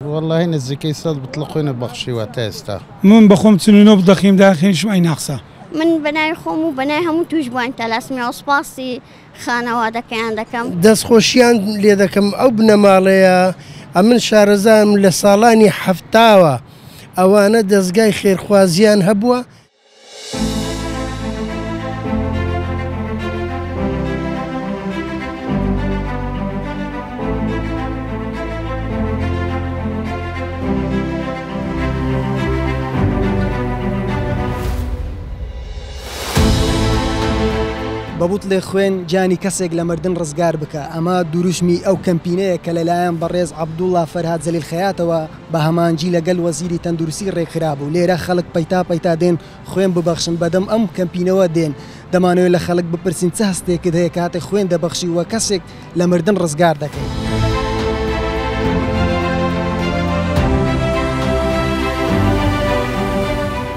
وەڵاهی نزیکەی سەد بتڵە قوینە بەخشیوە تا ئێستا. من بەخۆم چل و نۆ بتڵەقیم داخەیشم ئەی ناقسە. من بەناوی خۆم و بەناوی هەموو توشبوانی تالاسیمیا سوپاسی خانەوادەکەیان دەکەم. دەستخۆشیان لێدەکەم ئەو بنەماڵەیە ئەمن شارەزایم لەساڵانی حەفتاوە ئەوانە دەزگای خێرخوازیان هەبووە. بە بوتڵێ خوێن گیانی کەسێک لە مردن ڕزگار بکا، ئەمە دروشمی ئەو کەمپینەیە کە لەلایەن بەڕێز عەبدوڵا فەرهاد زەلیل خەیاتەوە، بە هەمانجی لە گەل وەزیری تەندروستی رێکخرابوو، لێرە خەلک پەیتا پەیتا دێن خوێن ببەخشن، بەدەم ئەم کەمپینەوە دێن، دەمانەوێت لە خەلک بپرسین چ هەستێکت هەیە کاتێک خوێن دەبەخشی و کەسێک لە مردن رزگار دەکەی؟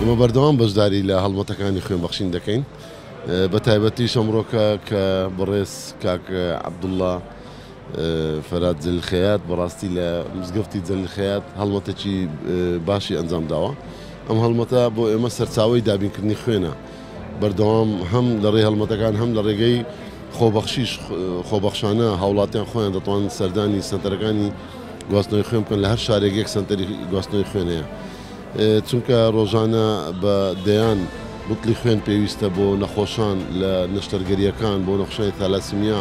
ئێمە بەردەوام بەشداری لە هەڵمەتەکانی خوێن بەخشین دەکەین، بە تایبەتیش ئەمڕۆکە کە بەڕێز کاک عەبدوڵا، فەرات جەلیل خەیات بەڕاستی لە مزگەفتی جەلیل خەیات هەڵمەتەکی باشی ئەنجام داوە ئەم هەڵمەتە بۆ ئێمە سەرچاوی دابینکردنی خوێنە بەردەوام هەم لە ڕێ هەڵمەتەکان هەم لە ڕێگەی خۆبەخشیش خۆبەخشانە هاوڵاتیان خۆیان دەتوان سەردانی سەنتەرەکانی گواستنەوەی خوێن بکەن لە هەر شارێک یەک سەنتەری گواستنەوەی خوێنەیە چونکە ڕۆژانە بە دەیان بتڵی خوێن پێویستە بۆ نەخۆشان لە نەشتەرگەریەکان بۆ نەخشای تالاسیمیا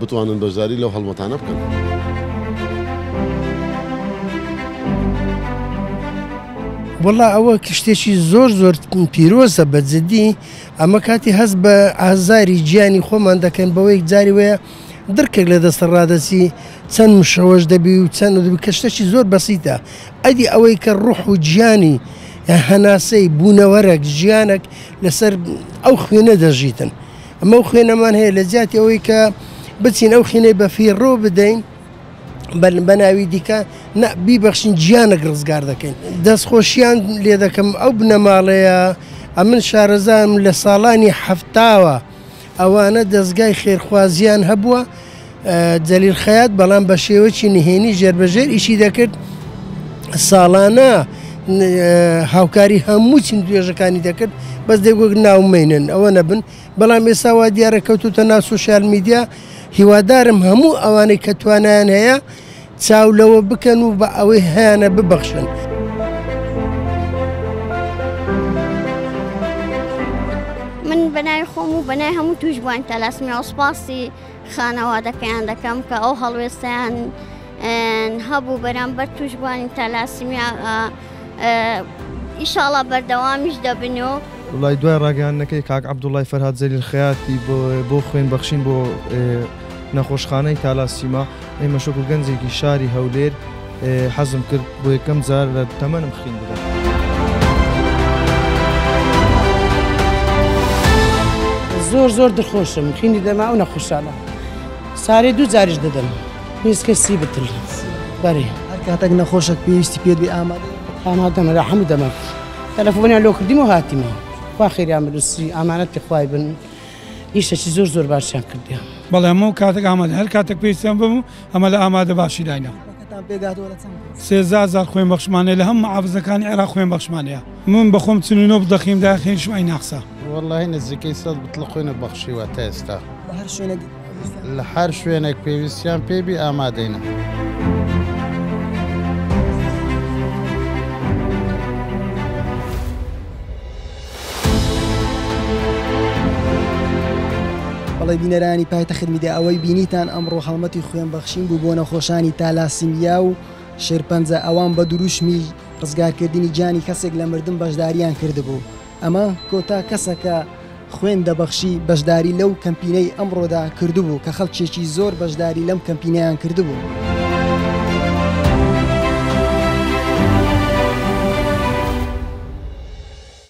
بتوانن بەشداری لەو هەڵمەتانە بکەن. وەڵا ئەوە شتێکی زۆر زۆر پیرۆزە بە جدی ئەمە کاتی هەست بە ئازاری گیانی خۆمان دەکەین بەوەی جاری وەیە دڕکێک لە دەستە ڕادەچی چەند مشەوەش دەبی و چەند کە شتەکی زۆر بەسیتە ئەدی ئەوەی کە ڕوح و گیانی هەناسەی بوونەوەرەک ژیانەک لەسەر ئەو خوێنە دەژیتن. ئەمە ئەو خوێنەمان هەیە لە جیاتی ئەوەی کە بچین ئەو خینەی بەفیڕۆ بدەین بە ناوی دیکە بیبەخشین گیانەک ڕزگار دەکەین دەستخۆشییان لێ دەکەم ئەو بنەماڵەیە ئەمن شارەزانم لە ساڵانی هەفتاوە ئەوانە دەستگای خێرخوازیان هەبووە جەلیل خەیات، بەڵام بە شێوەیەکی نهێنی ژێربەژێر ئیشی دەکرد، ساڵانە هاوکاری هەموو چین توێژەکانی دەکرد بەس دەگوت ناومێنن ئەوە نەبن بەڵام ئێستا وا دیارە کەوتوتە ناو سوسیال میدیا هیوادارم هەموو ئەوانەی کە توانیان هەیە چاو لەوە بکەن و بە ئەوەی هەیانە ببەخشن. من بەناوی خۆم و بەنای هەموو توش بووان تەلاسمی ئەوسپاسی خانەوادەکەیان دەکەم کە ئەو هەڵوێستیان هەبوو بەرامبەر توشبووانی تالاسیمیا ئیشاڵا بەردەوامیش دەبن و لای دوای ڕاگەیاندنەکەی کاک عەبدوڵای فەرهاد زەلیل خەیاتی بۆ خوێن بەخشین بۆ نەخۆشخانەی تالاسیما ئێمەش وەکو گەنجێکی شاری هەولێر حەزم کرد بۆ یەکەم جار لە تەمەنم خوێن بدەم. زۆر زۆر دخۆشم خوێنی دەما ئەو نەخوشانە سارێ دوو جاریش دەدەم هیچکە سی بتر بەرێ هەر کاتێک نەخۆشەک پێویستی پێ بێ ئامادە ئامادەمە لە هەموو دەمە تەلەفۆنیان لۆ کردیم و هاتیمە خوا خێریان بنووسی ئامانەتی خوای بن ئیشەکی زۆر زۆر باشیان کردیان بەڵێ هەموو کاتێک ئامادە هەر کاتێک پێویستیان بم ئەمە لە ئامادە باشی داینە سێزار خوێن بەخشمانەیە لە هەم عافزەکانی عێرا خوێن بەخشمانەیە من بەخۆم چنینۆ دەخیم داخێن شوای ناخسا وەڵی نزیکەی سەد بتڵە خوێنە بەخشیوە تا ئێستا لە هەر شوێنێک پێویستیان پێبی ئامادەینە. بەڵی بینەرانی پایتەخت میدیا ئەوەی بینیتان ئەمڕۆ هەڵمەتی خوێن بەخشین بوو بۆ نەخۆشانی تالاسیمیا و شێرپەنجە ئەوان بە دروشمی ڕزگارکردنی گیانی کەسێک لە مردن بەشداریان کردبوو ئەمە کۆتا کەسە کە خوێن دەبەخشی بەشداری لەو کەمپینەی ئەمڕۆدا کردبوو کە خەڵکێکی زۆر بەشداری لەم کەمپینیان کردبوو.